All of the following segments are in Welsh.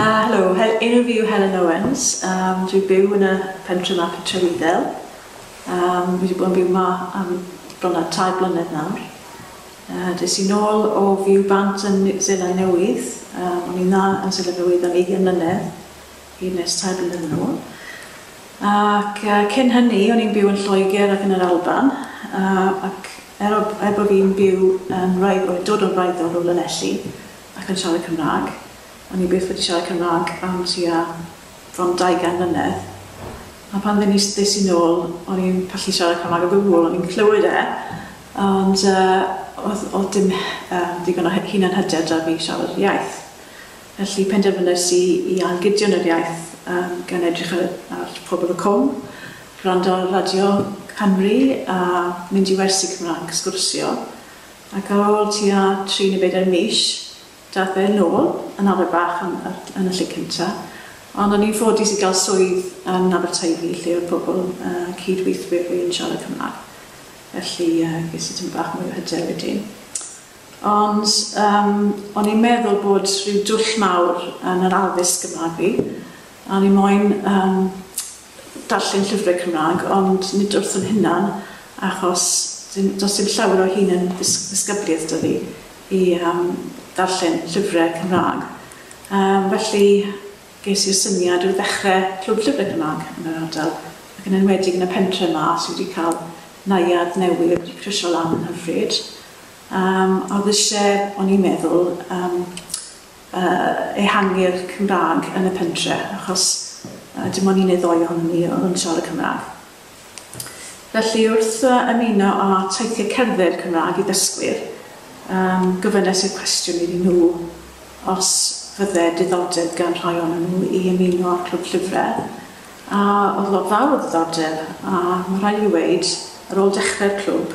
Ah, helo, he- enw fi yw Helen Owens, um, dwi'n byw yn y pentre ma, pentre Wyddel. Um, fi wedi bod yn byw ma am bron a tair blynedd nawr. Uh, des i'n ôl o fyw bant yn Zeland Newydd, um, o'n i'n dda yn Zeland Newydd am 20 mlynedd, hyd nes tair blynedd yn ôl. Ac uh, cyn hynny, o'n i'n byw yn Lloegr ac yn yr Alban, uh, ac er, o, er bod fi'n byw yn rhaid, o'n i'n dod o'n rhaid o'n ôl yn elli, ac yn siarad Cymraeg. O'n i byth wedi siarad Cymraeg am tua bron daugain mlynedd, a pan dden i s- ddes i'n ôl o'n i'n pallu siarad Cymraeg o gwbwl, o'n i'n clywed e, ond yy oedd oedd dim yy digon o hy- hunanhyder 'da fi i siarad yr iaith. Felly penderfynais i i ailgydio yn yr iaith yym gan edrych ar y ar Pobol y Cwm, gwrando ar Radio Cymru a mynd i wersi Cymraeg, sgwrsio. Ac ar ôl tua tri neu bedair mis, daeth fe yn ôl yn arfer bach yn yn y lle cynta, ond o'n i'n ffodus i gael swydd yn Aberteifi lle oedd pobl, yy, cyd-weithwyr fi yn siarad Cymraeg, felly, yy, ges i tymor bach mwy o hyder wedyn. Ond, yym, o'n i'n meddwl bod rhyw dwll mawr yn yr addysg Gymraeg fi, a o'n i moyn, yym, darllen llyfrau Cymraeg, ond nid wrth yn hunan, achos dim, does dim llawer o hyn yn ddisgyblaeth 'da fi i um, ddarllen llyfrau Cymraeg. Um, felly, ges i'r syniad o ddechrau clwb llyfrau Cymraeg yn yr ardal, ac yn enwedig yn y pentre yma sydd wedi cael naiad newydd wedi crysio lan yn hyfryd. Um, oedd eisiau, o'n i'n meddwl, um, ehangu'r Cymraeg yn y pentre, achos dim ond un neu ddou ohonon ni oedd yn siarad Cymraeg. Felly, wrth ymuno â teithiau cerdded Cymraeg i ddysgwyr, gofynes i'r cwestiwn iddyn nhw os fydde diddordeb gan rhai ohonon nhw i ymuno â'r Clwb Llyfrau, a oedd lot fawr o ddiddordeb, a mae'n rhaid i fi weud, ar ôl dechrau'r clwb,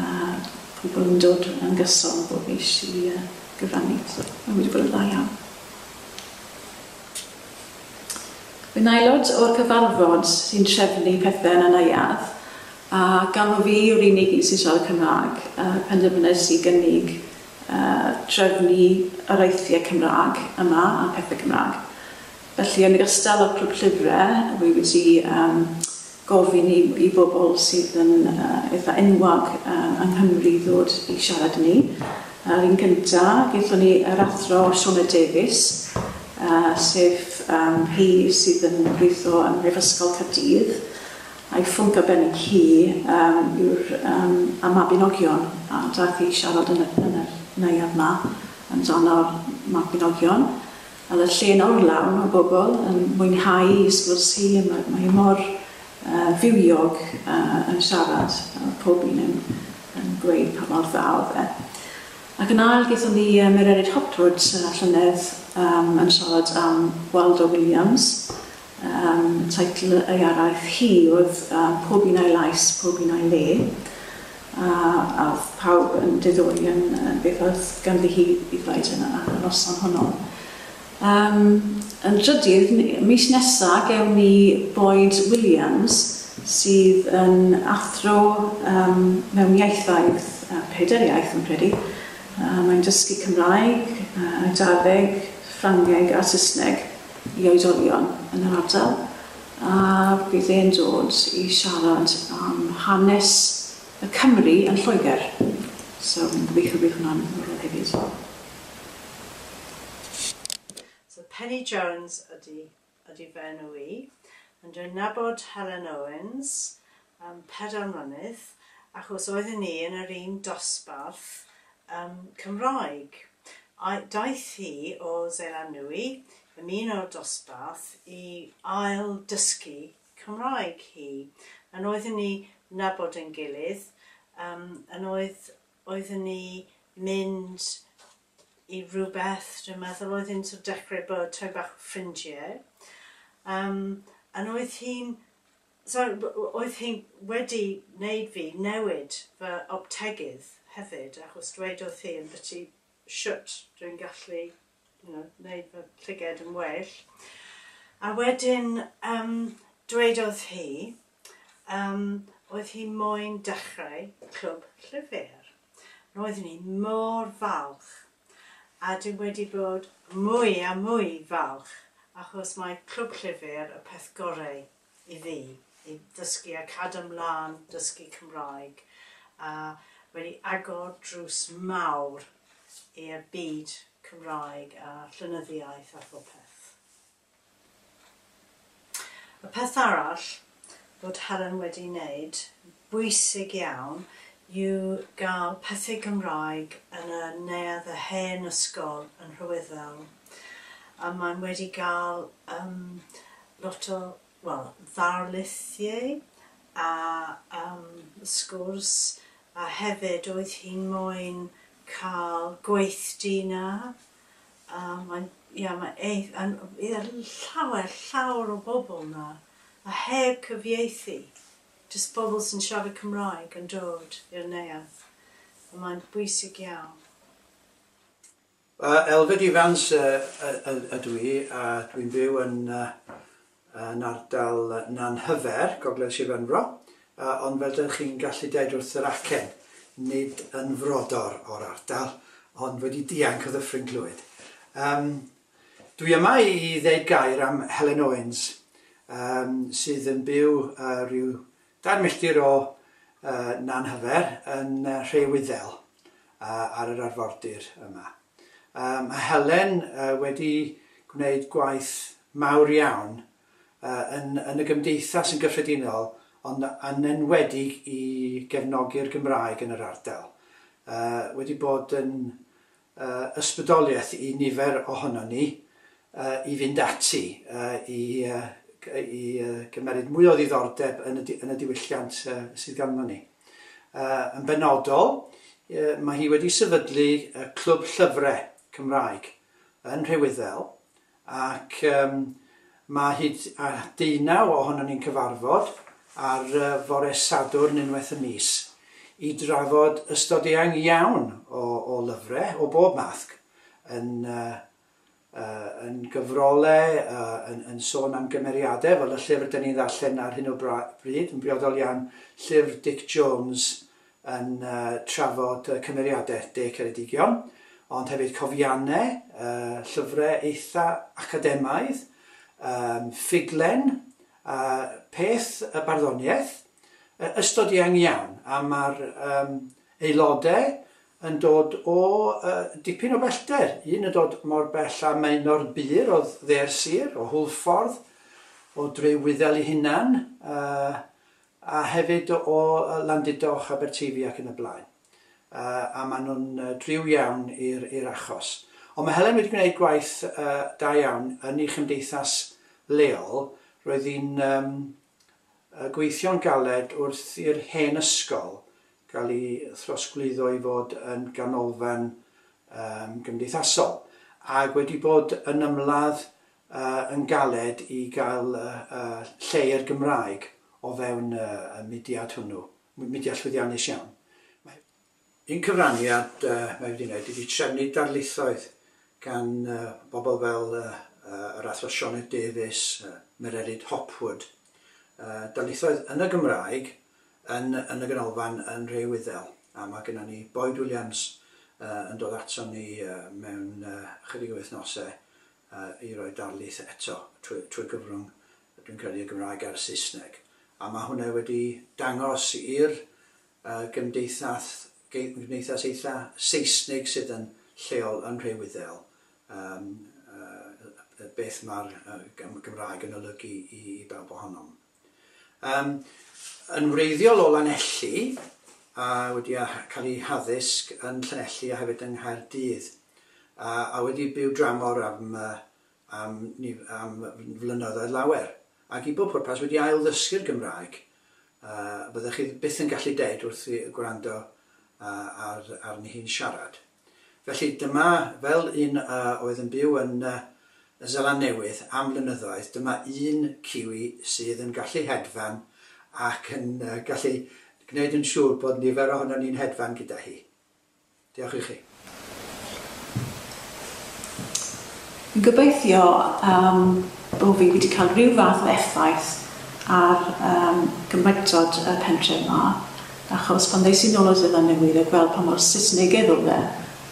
A pobl yn dod yn gyson bob mis i gyfrannu. So mae wedi bod yn dda iawn. Yn aelod o'r cyfarfod sy'n trefnu pethau yn y neuadd, a gan fod fi yw'r unig un sy'n siarad Cymraeg, uh, penderfynais i gynnig uh, trefnu yr eithiau Cymraeg yma a pethau Cymraeg. Felly, yn ogystal â'r clwb llyfrau, rwy wedi um, gofyn i i bobl sydd yn yy eitha' enwog yy yng Nghymru i ddod i siarad i ni. Yr un gynta', gaethon ni yr Athro Shona Davies, yy sef yym hi sydd yn gweitho ym Mhrifysgol Caerdydd, a'i phwnc arbennig hi yym yw'r yym y Mabinogion, a daeth hi i siarad yn y yn yr neuadd 'ma amdano'r Mabinogion. A mae'r lle'n orlawn o bobl yn mwynhau ei sgwrs hi, a mae mae hi mor yy fywiog a yn siarad a ma' pob un yn yn gweud pa mor dda odd e. Ac yn ail gethon ni yy Mererid Hopwood y llynedd yym yn siarad am Waldo Williams Yym, teitl ei araith hi oedd yy Pob Un A'i Lais, Pob Un A'i Le, a a oedd pawb yn diddori yn yy beth oedd ganddi hi i ddweud yn y ar y noson honno. Yym, yn drydydd, n- mis nesa gewn ni Boyd Williams sydd yn athro yym mewn ieithoedd, yy pedair iaith fi'n credu. Yy mae'n dysgu Cymraeg, yy Eidaleg, Ffrangeg a Saesneg. i oedolion yn yr ardal a bydd e'n dod i siarad am hanes y Cymry yn Lloegr. So fi'n gobeithio bydd hwnna'n ddiddorol hefyd. So Penny Jones ydy ydy f'enw i and dwi'n nabod Helen Owens am pedair mlynedd achos oedden ni yn yr un dosbarth ym Cymraeg. Daeth hi o Seland Nwy, ymuno'r dosbarth i ail dysgu Cymraeg hi. Yn oedden ni nabod ein gilydd, yn oedd oedden ni mynd i rywbeth dwi'n meddwl oedd hi'n sort of dechrau bod tymed bach o ffrindie. Yn oedd hi'n So, oedd hi wedi wneud fi newid fy optegydd hefyd, achos dwedodd hi ymbyti shwt dwi'n gallu, you know, wneud fy llygaid yn well. A wedyn yym dwedodd hi yym oedd hi moyn dechrau clwb llyfr. Roeddwn i mor falch a dwi wedi bod mwy a mwy falch achos mae Clwb Llyfr y peth goreu i fi i ddysgu a cadw mlan dysgu Cymraeg a wedi agor drws mawr i'r byd Cymraeg a llenyddiaeth a phopeth. Y peth arall fod Helen wedi wneud, bwysig iawn, yw gael pethe Gymraeg yn y neuadd y hen ysgol yn Rhywyddewl. A mae'n wedi gael yym lot o, wel, ddarlithiau a yym sgwrs, a hefyd oedd hi'n moyn cael gweithdy 'na. a mae'n ia mae eith- yn yy i'r llawer llawr o bobl 'na a heb cyfieithu jyst pobl sy'n siarad Cymraeg yn dod i'r neuadd a mae'n bwysig iawn. Yy Elfed Ifans yy yy ydw i a dwi'n byw yn yy yn ardal Nanhyfer, gogledd Sir Benfro, ond fel dych chi'n gallu deud wrth yr acen, nid yn frodor o'r ardal, ond wedi dianc o Ddyffryn Clwyd. Um, dwi yma i ddeud gair am Helen Owens, um, sydd yn byw uh, rhyw Dair milltir o Nanhyfer yn Nhre Wyddel ar yr arfordir yma. Mae Helen wedi gwneud gwaith mawr iawn yn y gymdeithas yn gyffredinol ond yn enwedig i gefnogi'r Gymraeg yn yr ardal. Wedi bod yn ysbrydoliaeth i nifer ohonon ni i fynd ati i gymeryd mwy o ddiddordeb yn y diwylliant sydd ganddo ni. Yn benodol, mae hi wedi sefydlu Clwb Llyfrau Cymraeg yn Rhywiddel ac yym mae hyd at deunaw ohonon ni'n cyfarfod ar yy fore Sadwrn unwaith y mis i drafod ystod eang iawn o o lyfre o bob mathg yn yy yy yn gyfrole yy yn yn sôn am gymeriade fel y llyfr 'dyn ni'n ddarllen ar hyn o bra- bryd yn briodol iawn llyfr Dic Jones yn trafod cymeriadau De Ceredigion, ond hefyd cofiannau, llyfrau eitha' academaidd, ffuglen, a pheth y barddoniaeth, ystod eang iawn, a mae'r aelodau yn dod o dipyn o bellter, un yn dod mor bell â Maenor Bur o dde'r sir, o Hwlffordd, o Dre Wyddel ei hunan, A hefyd o Landudoch, Aberteifi ac yn y blaen. A maen nhw'n driw iawn i'r achos. Ond mae Helen wedi gwneud gwaith da iawn yn ei chymdeithas leol. Roedd hi'n gweithio'n galed wrth i'r hen ysgol gael ei throsglwyddo i fod yn ganolfan gymdeithasol ac wedi bod yn ymladd yn galed i gael lle i'r Gymraeg o fewn y mudiad hwnnw, mudiad llwyddiannus iawn. Mae. Un cyfraniad mae wedi wneud ydy trefnu darlithoedd gan bobl fel yr Athro Sioned Davies, Mererid Hopwood, darlithoedd yn y Gymraeg yn yn y Ganolfan yn Nhre Wyddel, a mae gennon ni Boyd Williams yn dod aton ni mewn ychydig o wythnosau i roi darlith eto trwy gyfrwng, dwi'n credu, y Gymraeg a'r Saesneg. A mae hwnna wedi dangos i'r gymdeithas, gymdeithas eitha Seisnig sydd yn lleol yn Nhre Wyddel beth mae'r Gymraeg yn olygu i bawb ohonom. Yym yn wreiddiol o Lanelli a wedi a cael ei haddysg yn Llanelli a hefyd yng Nghaerdydd a a wedi byw dramor am yy am nif- am flynyddoedd lawer ac i bob pwrpas wedi ailddysgu'r Gymraeg yy fyddech chi byth yn gallu deud wrth i gwrando yy ar arni hi'n siarad. Felly, dyma, fel un a oedd yn byw yn Y Seland Newydd am flynyddoedd, dyma un Kiwi sydd yn gallu hedfan ac yn gallu gwneud yn siŵr bod nifer ohonon ni'n hedfan gyda hi. Diolch i chi. Gobeithio yym bo fi wedi cael rhyw fath o effaith ar yym Gymraegtod y pentref 'ma, achos pan ddes i nôl o Seland Newydd a gweld pa mor Saesnegedd o'dd e,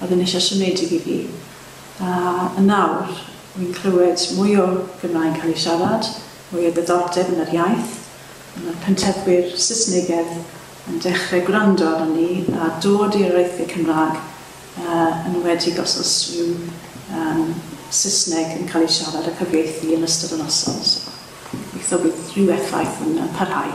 o'dd e'n eitha siomedig i fi. A yn nawr, wi'n clywed mwy o Gymraeg cael ei siarad, mwy o ddiddordeb yn yr iaith, a ma'r pentreddwyr Saesnegedd yn dechre gwrando arnon ni a dod i areithie Cymrâg, yn enwedig os oes rhyw Saesneg yn cael ei siarad a cyfieithu yn ystod y noson, so gobeithio bydd rhyw effaith yn parhau.